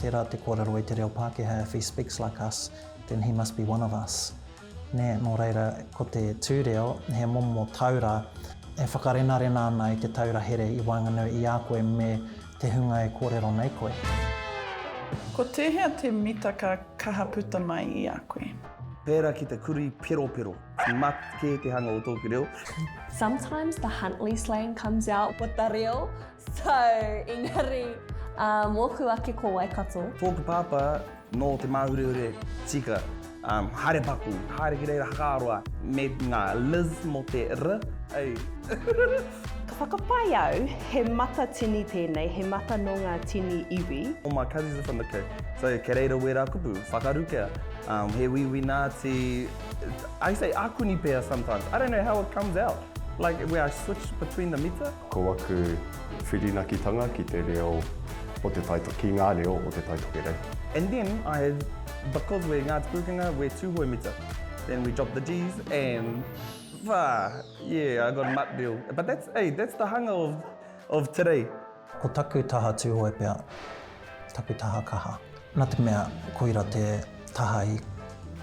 Tērā te kōrero i te reo Pākehā if he speaks like us, then he must be one of us. Nē, nō reira, ko te tū reo, he momo taura e whakarenarena ana i te taura here i waenganui i a koe me te hunga e kōrero nei koe. Ko tēhea te mita ka kaha puta mai i a koe? Pērā ki te kurī peropero, mat kē te hanga o tōku reo. Sometimes the Huntly slang comes out with the reo. So, engari, ā, mōku ake ko Waikato. Tōku pāpā nō Te Māhurehure tika, ā, haere paku, haere ki reira Hakaroa me ngā Liz mō te r, ei. Ka whakapae au, he mata tini tēnei, he mata nō ngā tini iwi. All my cousins are from the Cape, so kei reira wērā kupu, whakarukea, ā, he wīwī Nāti, I say akuni pea sometimes, I don't know how it comes out, like where I switch between the mita. Ko aku whirinakitanga ki te reo o te Taitokerau, ki ngā reo o te Taitokerau. And then I have, because we're Ngāti Pūkenga, we're Tūhoe mita. Then we drop the Ds and whā! Yeah, I got a mutt deal. But that's, hey, that's the hanga of, of today. Ko taku taha Tūhoe pea, taku taha kaha. Nā te mea koira te taha i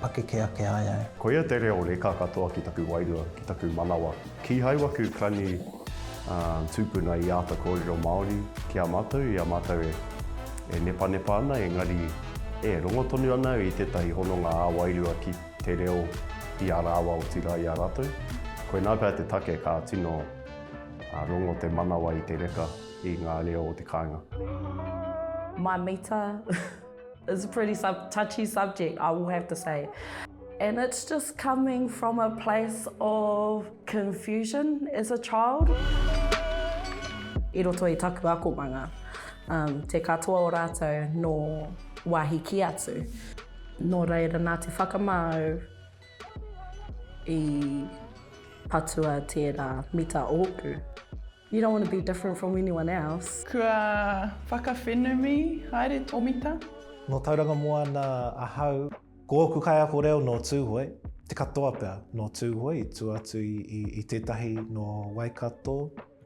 pakeke ake ai au. Koia te reo reka katoa ki taku wairua, ki taku manawa. Kīhai waku clan i tūpuna i āta kōrero Māori ki a mātou i a mātou e nepanepa ana engari e rongo tonu ana au i tētahi hononga ā-wairua ki te reo i a rāua otirā i a rātou. Koinā pea te take ka tino rongo te manawa i te reka. i ngā reo o te kāinga. My mita is a pretty sub touchy subject, I will have to say. And it's just coming from a place of confusion as a child. I roto i taku akomanga, um, te katoa o rātou nō wāhi ki atu. Nō reira nā te whakamāu i patua tērā mita ōku. You don't want to be different from anyone else. Kua whakawhenumi, haere Tomita. Nō Tauranga Moana ahau. Ko ōku kaiako reo nō Tūhoe, te katoa pea nō Tūhoe i tua atu i tētahi nō Waikato,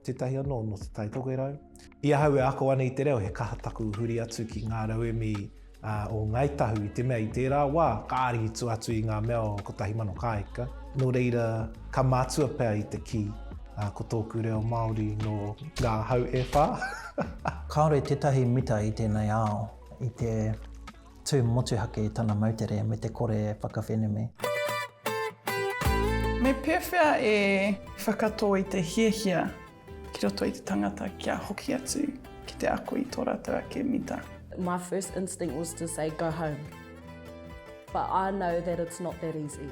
tētahi anō nō Te Tai Tokerau. I ahau e ako ana i te reo he kaha taku huri atu ki ngā rauemi ā, o Ngāi Tahu, i te mea i tērā wā ka ārihi tua atu i ngā mea o 1000 kāika, nō reira ka mātua pea i te kī, ā, ko tōku reo Māori nō ngā hau e whā. Kāore tētahi mita i tēnei ao i te tū motuhake i tana moutere me te kore e whakawhenumi. Me pēwhea e whakatō i te hiahia Ki roto i te tangata kia hoki atu ki te ako i tō rātou ake mita. My first instinct was to say go home. But I know that it's not that easy.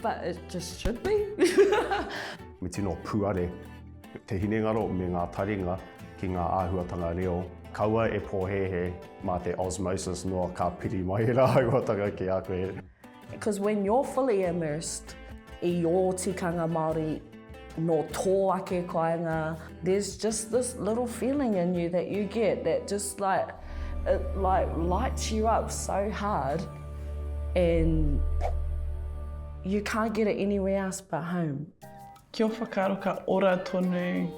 But it just should be. Me tino puare te hinengaro me ngā taringa ki ngā āhuatanga reo. Kaua e pōhēhē mā te osmosis noa ka piri mai rāua tanga ki a koe. Because when you're fully immersed i ō tikanga Māori, nō tō ake kāinga, there's just this little feeling in you that you get that just like, it like lights you up so hard and you can't get it anywhere else but home. Kia whakaaro ka ora tonu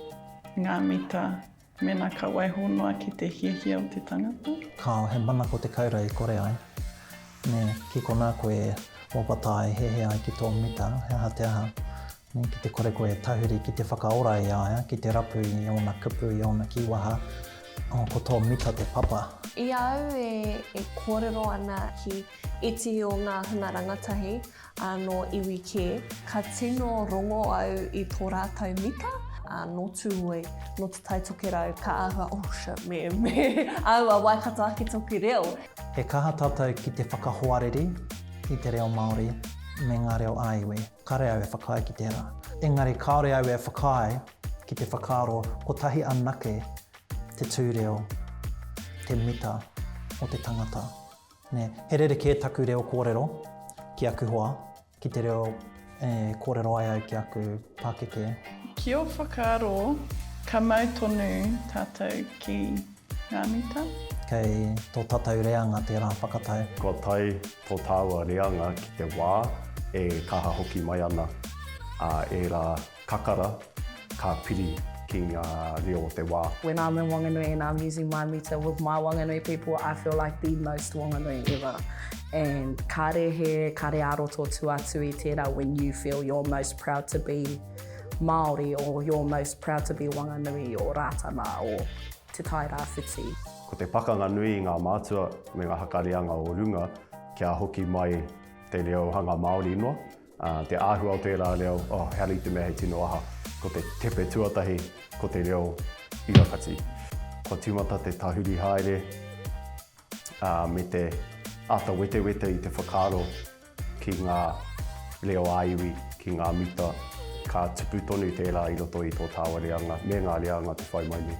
ngā mita. Mēnā ka waiho noa ki te hiahia o te tangata. Kāo, he manako te kaura e kore ai. Nē, ki konā koe e wawata ai, hehe ai ki tō mita, he aha te aha. Nē, ki te kore koe e tahuri ki te whakaora i a ia, ki te rapu i ōna kupu, i ōna kīwaha, oh, ko tō mita te papa. I a au e kōrero ana ki iti o ngā hunga rangatahi, Anō iwi kē, ka tino rongo au i tō rātou mita, ā, nō Tūhoe, nō Te Tai Tokerau, ka āhua, oh shit, me, me āua Waikato ake tōku reo. He kaha tātou ki te whakahoariri i te reo Māori me ngā reo ā-iwi, kāore au e whakaae ki tērā. Engari kāore au e whakaae ki te whakaaro kotahi anake te tūreo, te mita o te tangata. Nē, he rerekē taku reo kōrero ki aku hoa, ki te reo e kōrero ai au ki aku pākeke. Ki ō whakaaro, ka mau tonu tātou ki ngā mita? Kei tō tātou reanga tērā whakatau. Kua tae tō tāua reanga ki te wā e kaha hoki mai ana ērā. Kakara, ka piri ki ngā reo o te wā. When I'm in Wanganui and I'm using my meter with my Wanganui people, I feel like the most Wanganui ever. And kāre he kare ā-roto tū atu i tērā when you feel you're most proud to be Māori or you're most proud to be Wanganui or Rātana or Te Tai Rāwhiti. Ko te pakanga nui i ngā mātua me ngā haka reanga o runga kia hoki mai te reo hanga Māori noa. Te āhua o tērā reo, oh, he hari te mea he tino aha, ko te tepe tuatahi, ko te reo i rakati. Kua tīmata te tahuri haere me te ata wetewete i te whakaaro ki ngā reo ā-iwi, ki ngā mita, ka tupu tonu tērā i roto i tō tāua reanga me ngā reanga te whai mai nei.